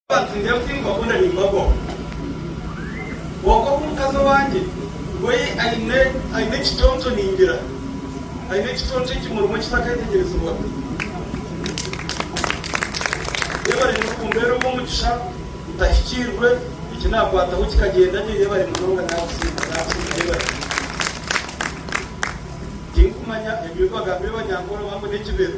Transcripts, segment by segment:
Batwire kuhingwa boona ningwa bo. Kwonka ku mukazi owangye we aine aine ekitonto ningira aine ekitonto ekimurimu ekitakaitegyerezibwa. Yebare muno kumbeera ow'omugisha ntahikirwe eki nakwataho kikagyenda gye yebare munonga nakusiima nakusiima yebare. Tinkumanya ebi bagambire ba Nyankore oba ngu n'ekibero.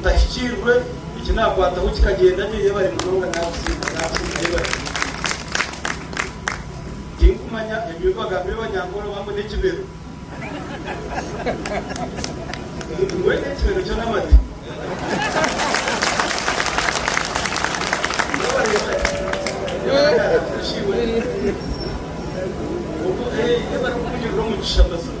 Ntahikirwe, eki nakwataho kikagyenda gye, yebare munonga nakusiima nakusiima yebare munonga. Tinkumanya ebi bagambire banyankore oba mbwenu ekibero mbwenu ekibero kyo namate yebare yebare nakusiima yebare kunyurira omugisha mazima.